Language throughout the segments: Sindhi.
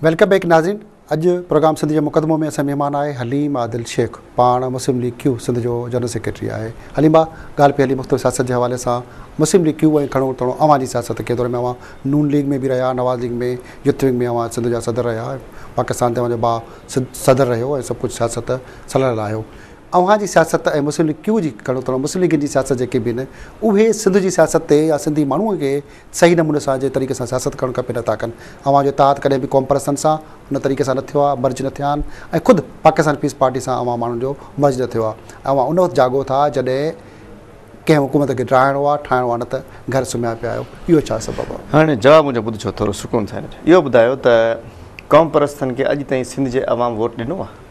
ويلڪم بيڪ ناظرين اڄ پروگرام سنڌ جو مقدمو ۾ اسان مهمان آهي حليم عادل شيخ پاڻ مسلم ليگ ڪيو سنڌ جو جنرل سيڪريٽري آهي حليم با ڳالهه پيالي مختلف سياست جي حوالي سان مسلم ليگ ڪيو ۽ کڻو تڻو اوهان جي سياست ڪي دور ۾ اوهان نون ليگ ۾ به رهيا نواز ليگ ۾ يوٿ ونگ ۾ اوهان سنڌ جا صدر رهيا پاڪستان تي اوهان جو با صدر رهيو ۽ سڀ ڪجهه سياست سلهل آهيو اوهان جي سياست ۽ مسلم ليگ ڪيو جي کڻو ٿڻو مسلم ليگ جي سياست جيڪي به آهن اهي سنڌ جي سياست تي يا سنڌي ماڻهو کي صحيح نموني سان جي طريقي سان سياست ڪرڻ کپي نه ٿا ڪن اوهان جو اتحاد ڪڏهن به قوم پرستن سان ان طريقي سان نه ٿيو آهي مرج نه ٿيا آهن ۽ خود پاڪستان پيس پارٽي سان اوهان ماڻهن جو مرج نه ٿيو آهي اوهان ان وقت جاڳو ٿا جڏهن ڪنهن حڪومت کي ڊاهڻو آهي ٺاهڻو آهي نه ته گهر سمهيا پيا آهيو اهو ڇا سبب آهي هاڻي جواب منهنجو ٻڌجو ٿورو سڪون سان اهو ٻڌايو ته قوم پرستن کي اڄ تائين سنڌ جي عوام ووٽ ڏنو آهي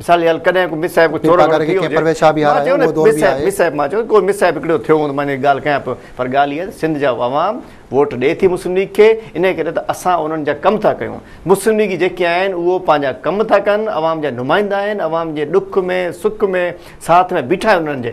مثال يا ڪڏهن ڪو مس صاحب چور وغيره ٿي ويو هجي پرويز شاهه به هارائي اهو دور به آهي مس صاحب مان چيو ڪو مس صاحب هڪڙو ٿيو هوندو مان ان ڳالهه ڪيان پيو پر ڳالهه اها آهي ته سنڌ جا عوام ووٽ ڏئي ٿي مسلم ليگ کي انهي ڪري ته اسان انهن جا ڪم ٿا ڪيون مسلم ليگي جيڪي آهن اهو پنهنجا ڪم ٿا ڪن عوام جا نمائندا آهن عوام جي ڏک ۾ سک ۾ ساٿ ۾ بيٺا آهن انهن جي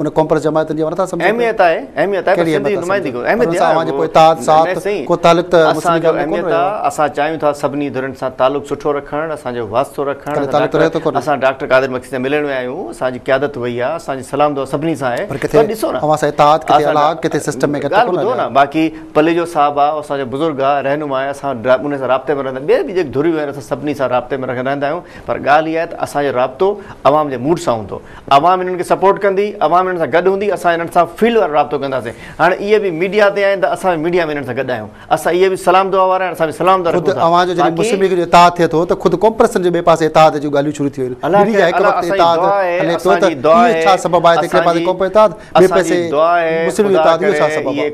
ان قوم پرست جماعتن جي ورثا سمجهو اهميت آهي اهميت آهي پر سنڌي نمائندي ڪو اهميت آهي اوهان جي پوء اتحاد ساٿ ڪو تعلق ته مسلم جو اهميت آهي اسان چاهيون ٿا سڀني ڌرين سان تعلق سٺو رکڻ اسان جو واسطو رکڻ اسان ڊاڪٽر قادر مڪي سان ملڻ ويا آهيون اسان جي قيادت وئي آهي اسان جي سلام دعا سڀني سان آهي پر ڪٿي ڏسو نه اوهان سان اتحاد ڪٿي الاگ ڪٿي سسٽم ۾ ڪٿي ڪونه نه باقي پليجو صاحب آهي اسان جو بزرگ آهي رهنما آهي اسان ان سان رابطي ۾ رهندا ٻيا به جيڪي ڌريون آهن اسان سڀني سان رابطي ۾ رهندا آهيون پر ڳالهه اها آهي ته اسان جو رابطو عوام جي موڊ سان هوندو عوام انهن کي سپورٽ ڪندي، عوام انهن سان گڏ هوندي، اسان انهن سان فيلڊ وارو رابطو ڪنداسين، هاڻ اهي به ميڊيا تي آهن ته اسان به ميڊيا ۾ انهن سان گڏ آهيون، اسان اهي به سلام دعا وارا آهن، اسان به سلام دعا رکون ٿا، خود اوهان جو جڏهن مسلم ليگ جو اتحاد ٿئي ٿو ته خود ڪونپرسن جي ٻئي پاسي اتحاد جون ڳالهيون شروع ٿي ويون آهن، ميڊيا جا هڪ وقت تي اتحاد هلي پيو ته اهو ڇا سبب آهي ته هڪڙي پاسي قوم پرست اتحاد ٻئي پاسي مسلم ليگ جو اتحاد اهو ڇا سبب آهي.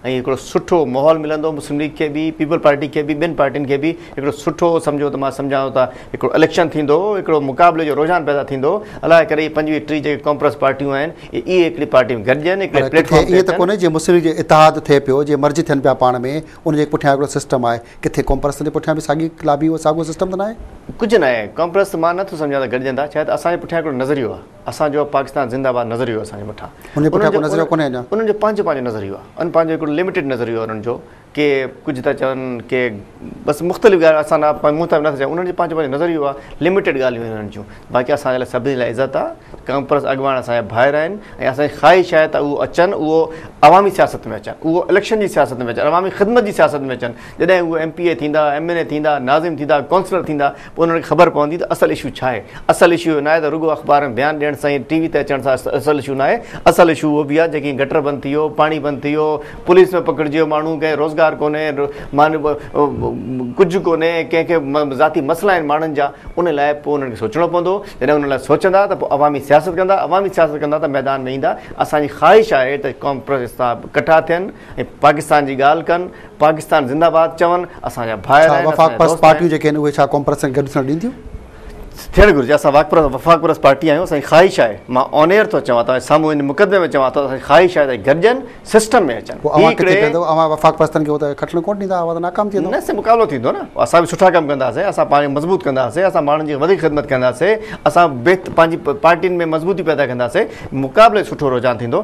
۽ هڪڙو سٺو ماحول ملندو مسلم ليگ کي به پيپلز پارٽي کي به ٻين پارٽين کي به هڪڙو سٺو سمجهو ته مان سمجهان ٿو ته هڪڙو اليڪشن ٿيندو هڪڙو مقابلي جو رجحان پيدا ٿيندو الاء ڪري هي پنجويهه ٽيهه جيڪي ڪانفرنس پارٽيون آهن اهي هڪڙي پارٽي ۾ گڏجن هڪڙي پليٽ فارم تي اچن پر ڪٿي ائين ته ڪونهي جي مسلم ليگ جو اتحاد ٿئي پيو جي مرج ٿين پيا پاڻ ۾ ان جي پٺيان هڪڙو سسٽم آهي ڪٿي ڪانفرنسن جي پٺيان به ساڳي لابي ساڳيو سسٽم ته ناهي. ڪجهه ناهي ڪانفرنس مان نه ٿو سمجهان ته گڏجن ٿا شايد اسان جي پٺيان هڪڙو نظريو آهي. اسان جو پاڪستان زنده آباد نظريو اسان جي مٺا انهن پٺيان ڪو نظريو ڪونهي اڃا انهن جو پنهنجو پنهنجو نظريو آهي ان پنهنجو هڪڙو لميٽيڊ نظريو آهي انهن جو ڪي ڪجهه ٿا چون ڪي بس مختلف ڳالهيون اسان نه پنهنجو مون ته نه ٿا چون انهن جو پنهنجو پنهنجو نظريو آهي لميٽيڊ ڳالهيون انهن جون باقي اسان جي لاء سڀني لاء عزت آهي ڪانفرنس اڳواڻ اسان جا ڀائر آهن ۽ اسان جي خواهش آهي ته اهو اچن اهو عوامي سياست ۾ اچن اهو اليڪشن جي سياست ۾ اچن عوامي خدمت جي سياست ۾ اچن جڏهن اهو ايم پي اي ٿيندا ايم اين اي ٿيندا ناظم ٿيندا ڪونسلر ٿيندا پوء انهن کي خبر پوندي ته اصل اشو ڇا آهي. اصل اشو اهو ناهي ته رڳو اخبار ۾ بيان ڏيڻ سان ۽ ٽي وي تي اچڻ سان اصل اشو ناهي. اصل اشو اهو به آهي جيڪي هي گٽر بند ٿي ويو، پاڻي بند ٿي ويو، پوليس ۾ پڪڙجي ويو ماڻهو، ڪنهن کي روزگار ڪونهي، ڪجهه ڪونهي، ڪنهن کي ذاتي مسئلا آهن ماڻهن جا، ان لاء پوء انهن کي سوچڻو پوندو. جڏهن انهن لاء سوچندا ته پوء عوامي سياست ڪندا، عوامي سياست ڪندا ته ميدان ۾ ايندا. اسان جي خواهش آهي ته ڪانفرنس احتساب ڪٺا ٿين. ۽ پاڪستان جي ڳالهه ڪن پاڪستان زنده باد چون اسان جا ڀائر آهن ڇا وفاق پرست پارٽيون جيڪي آهن اهي ڇا ڪونپرس سان گڏ ٿيڻ ڏينديون. ٿيڻ گهرجي اسان وفاق پرست پارٽي آهيون اسان جي خواهش آهي مان آن ايئر ٿو چوان توهان سامهون ان مقدمي ۾ چوان ٿو اسان جي خواهش آهي ته گڏجن سسٽم ۾ اچن پوء اوهان ڪٿي پيندو اوهان وفاق پرستن کي اتي کٽڻ ڪونه ڏيندا اوهان ته ناڪام ٿي ويندو نه سي مقابلو ٿيندو نه اسان به سٺا ڪم ڪنداسي اسان پاڻ مضبوط ڪنداسي اسان ماڻهن جي وڌيڪ خدمت ڪنداسي اسان بهت پنهنجي پارٽين ۾ مضبوطي پيدا ڪنداسي مقابلي سٺو رجحان ٿيندو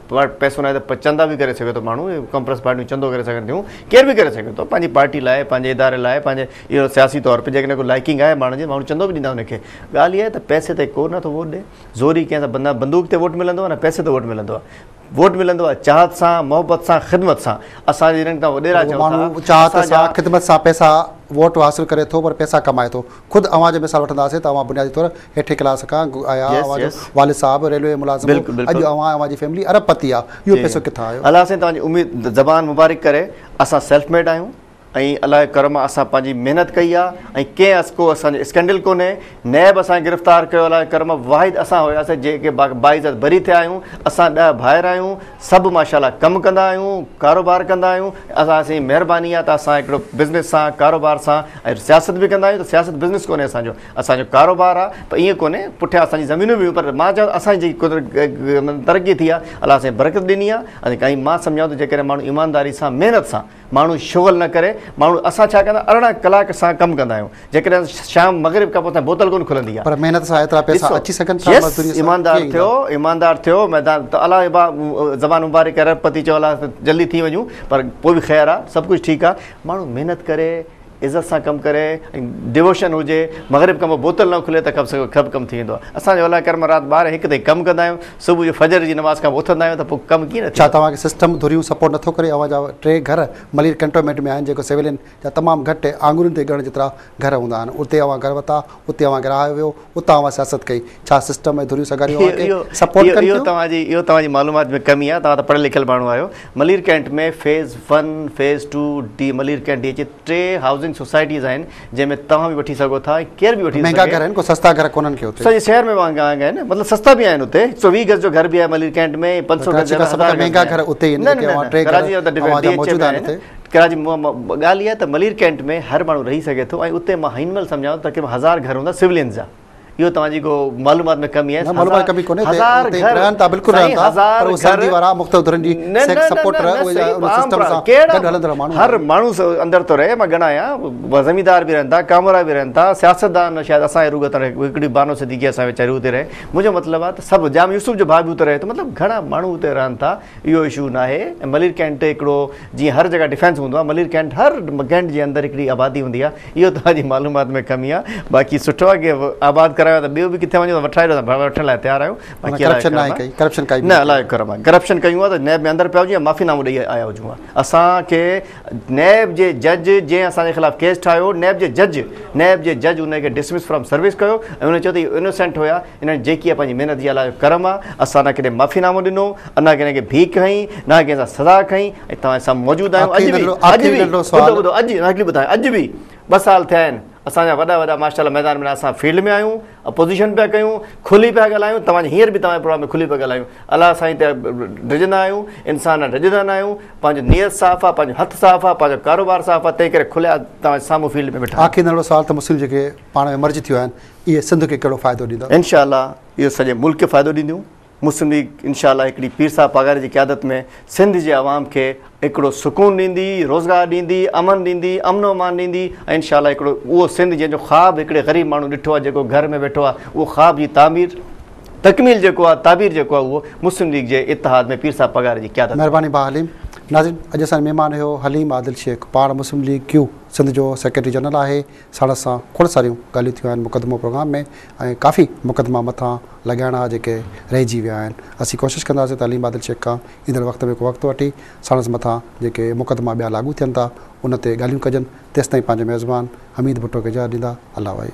وٽ پئسو ناهي ته پوء چندا به ڪري سگهي ٿو ماڻهو، ڪمپرس پارٽيون چندو ڪري سگهن ٿيون، ڪير به ڪري سگهي ٿو، پنهنجي پارٽي لاء، پنهنجي اداري لاء، پنهنجي اهو سياسي طور تي جيڪڏهن ڪو لائيڪنگ آهي ماڻهن جي ماڻهو چندو به ڏيندا ان کي، ڳالهه اها آهي ته پئسي تي ڪو نه ٿو ووٽ ڏئي، زوري ڪنهن سان نه بندوق تي ووٽ ملندو آهي نه پئسي تي ووٽ ملندو آهي، ووٽ ملندو آهي چاهت سان، محبت سان، خدمت سان، اسان جي جنھن کان وڏيرا چئون ٿا، اسان جا. ماڻهو چاهت سان، خدمت سان پئسا ووٽ حاصل ڪري ٿو پر پئسا ڪمائي ٿو. خود اوهان جي مثال وٺنداسين ته اوهان بنيادي طور هيٺين ڪلاس کان آيا آهيو اوهان جو والد صاحب ريلوي ملازم هو اڄ اوهان ۽ اوهان جي فيملي ارب پتي آهي اهو پئسو ڪٿان آيو؟ الله سائين توهان جي اميد زبان مبارڪ ڪري اسان سيلف ميڊ آهيون ۽ الله جي ڪرم آهي اسان پنهنجي محنت ڪئي آهي ۽ ڪنهن اس ڪو اسان جو اسڪينڊل ڪونهي نيب اسان کي گرفتار ڪيو الله جي ڪرم آهي واحد اسان هياسين جيڪي باعزت بري ٿيا آهيون اسان ڏهه ڀائر آهيون سڀ ماشاءالله ڪم ڪندا آهيون ڪاروبار ڪندا آهيون اسان سين مهرباني آهي ته اسان هڪڙو بزنس سان ڪاروبار سان ۽ سياست به ڪندا آهيون ته سياست بزنس ڪونهي اسان جو اسان جو ڪاروبار آهي ته ايئن ڪونهي پٺيان اسان جي زمينون به پر مان چاهيان اسان جي جيڪي ترقي ٿي آهي الله سائين برڪت ڏني آهي ۽ مان سمجهان ٿو جيڪڏهن ماڻهو ايمانداري سان محنت سان ماڻهو شغل نه ڪري ماڻهو اسان ڇا ڪندا ارڙهن ڪلاڪ سان ڪم ڪندا آهيون جيڪڏهن شام مغرب کان پوء تائين بوتل ڪونه کلندي آهي پر محنت سان ايترا پئسا اچي سگهن ٿا مزدوري سان ايماندار ٿيو ايماندار ٿيو ميدان ته الله ابا زبان مبارڪ ڪري ارب پتي چئو الله جلدي ٿي وڃون پر پوء به خير آهي سڀ ڪجهه ٺيڪ آهي ماڻهو محنت ڪري عزت سان ڪم ڪري ۽ ڊووشن هجي مغرب کان پوء بوتل نه اکلي ته ڪب ڪم ٿي ويندو آهي اسان جو الله ڪرم رات ٻارهن هڪ تائين ڪم ڪندا آهيون صبح جو فجر جي نماز کان پوء اٿندا آهيون ته پوء ڪم ڪيئن نه ٿيندو. ڇا توهان کي سسٽم ڌريون سپورٽ نٿو ڪري اوهان جا ٽي گهر ملير ڪينٽونمينٽ ۾ آهن جيڪو سويلين جا تمام گهٽ آڱرين تي ڳڻڻ جيترا گهر هوندا آهن اتي اوهان گهر ورتا اتي اوهان کي رهايو ويو اتان اوهان سياست ڪئي ڇا سسٽم ۽ ڌريون سگهاريون اوهان کي سپورٽ ڪن ٿيون؟ اهو توهان جي اهو توهان جي معلومات ۾ ڪمي آهي توهان ته پڙهيل لکيل ماڻهو آهيو Malir cantt ۾ phase one phase two D Malir cantt D اچي ٽي هائوسنگ سوسائٽيز آهن جنهن ۾ توهان به وٺي سگهو ٿا ۽ ڪير به وٺي ٿو مهنگا گهر آهن ڪو سستا گهر ڪونهن ڪي اتي سڄي شهر ۾ مهانگا آهن نه مطلب سستا به آهن اتي هڪ سو ويهه گز جو گهر به آهي ملير ڪينٽ ۾ پنج سو گز جو گهر هزار گز جو گهر ڪراچي جا سڀ کان مهانگا گهر اتي هي نه ڪي اوهان ٽي گهر اوهان جا موجود آهن اتي ڪراچي ۾ ڳالهه اها آهي ته ملير ڪينٽ ۾ هر ماڻهو رهي سگهي ٿو ۽ اتي مان هن مهل سمجهان ٿو تقريبن هزار گهر هوندا سولينز جا اهو توهان جي ڪو معلومات ۾ ڪمي آهي نه معلومات ڪمي ڪونهي هزار گهر رهن ٿا بلڪل رهن ٿا پر اهي سنڌي وارا مختلف ڌرن جي سيڪس سپورٽر اهي ان سسٽم سان گڏ هلندڙ ماڻهو هر ماڻهو اندر ٿو رهي مان ڳڻايا زميندار به رهن ٿا ڪامورا به رهن ٿا سياستدان شايد اسان جي روڳ تان هڪڙي بانو صديقي اسان ويچاري اتي رهي منهنجو مطلب آهي ته سڀ جام يوسف جو ڀاء به اتي رهي ٿو مطلب گهڻا ماڻهو اتي رهن ٿا اهو اشو ناهي ملير ڪينٽ هڪڙو جيئن هر جڳهه ڊفينس هوندو آهي ملير ڪينٽ هر ڪينٽ جي اندر هڪڙي آبادي هوندي آهي اهو توهان جي معلومات ۾ ڪمي آهي باقي سٺو آهي ڪي آباد ڪرايو آهي ته ٻيو به ڪٿي وڃو ته وٺرائي ڏيو ته وٺڻ لاء تيار آهيون باقي الله جو ڪرم آهي ڪرپشن ڪائي نه الله جو ڪرم آهي ڪرپشن ڪيون آهي ته نيب ۾ اندر پيا هجون يا معافي نامو ڏئي آيا هجون آهي اسان کي نيب جي جج جنهن اسان جي خلاف ڪيس ٺاهيو نيب جي جج نيب جي جج ان کي ڊسمس فرام سروس ڪيو ۽ ان چيو ته انوسينٽ هيا انهن جيڪي آ پنهنجي محنت جي الله جو ڪرم آ اسان نه ڪڏهن معافي نامو ڏنو نه ڪنهن کي ڀيڪ هنئي نه ڪنهن سان سزا کئي ۽ توهان سامهون موجود آهيون اڄ به اڄ به ٻڌو ٻڌو اڄ نه هڪڙي ٻڌايان اڄ به ٻه سال ٿيا آهن اسان جا وڏا وڏا ماشاء الله ميدان ۾ اسان فيلڊ ۾ آهيون اپوزيشن پيا ڪيون کلي پيا ڳالهايون توهان هينئر به توهان پروگرام ۾ کلي پيا ڳالهايون الله سائين ته ڊڄندا آهيون انسان نه ڊڄندا نه آهيون پنهنجو نيت صاف آ پنهنجو هٿ صاف آ پنهنجو ڪاروبار صاف آ تنهن ڪري کليا توهان سامهون فيلڊ ۾ ويٺا آخري نڙو سوال ته مسلم جيڪي پاڻ ۾ مرج ٿيو آهن اهي سنڌ کي ڪهڙو فائدو ڏيندا؟ انشاء الله اهي سڄي ملڪ کي فائدو ڏينديون. مسلم ليگ انشاء الله هڪڙي پير صاحب پاڳاري جي قيادت ۾ سنڌ جي عوام کي هڪڙو سڪون ڏيندي، روزگار ڏيندي، امن ڏيندي، امن و امان ڏيندي ۽ انشاء الله هڪڙو اهو سنڌ جنهن جو خواب هڪڙي غريب ماڻهو ڏٺو آهي جيڪو گهر ۾ ويٺو آهي اهو خواب جي تعمير تڪميل جيڪو آهي تعبير جيڪو آهي اهو مسلم ليگ جي اتحاد ۾ پير صاحب پاڳاري جي قيادت ۾. مهرباني ڀاء حليم. ناظرين اڄ اسان جو مهمان هيو حليم عادل شيخ پاڻ مسلم ليگ ڪيو سنڌ جو سيڪريٽري جنرل آهي ساڻس سان کوڙ ساريون ڳالهيون ٿيون آهن مقدمو پروگرام ۾ ۽ ڪافي مقدما مٿان لڳائڻا ها جيڪي رهجي ويا آهن اسين ڪوشش ڪنداسين ته عليم عادل شيخ کان ايندڙ وقت ۾ ڪو وقت وٺي ساڻس مٿان جيڪي مقدما ٻيا لاڳو ٿين ٿا ان تي ڳالهيون ڪجن تيستائين پنهنجو ميزبان حميد ڀٽو کي اجازت ڏيندا الله وائي.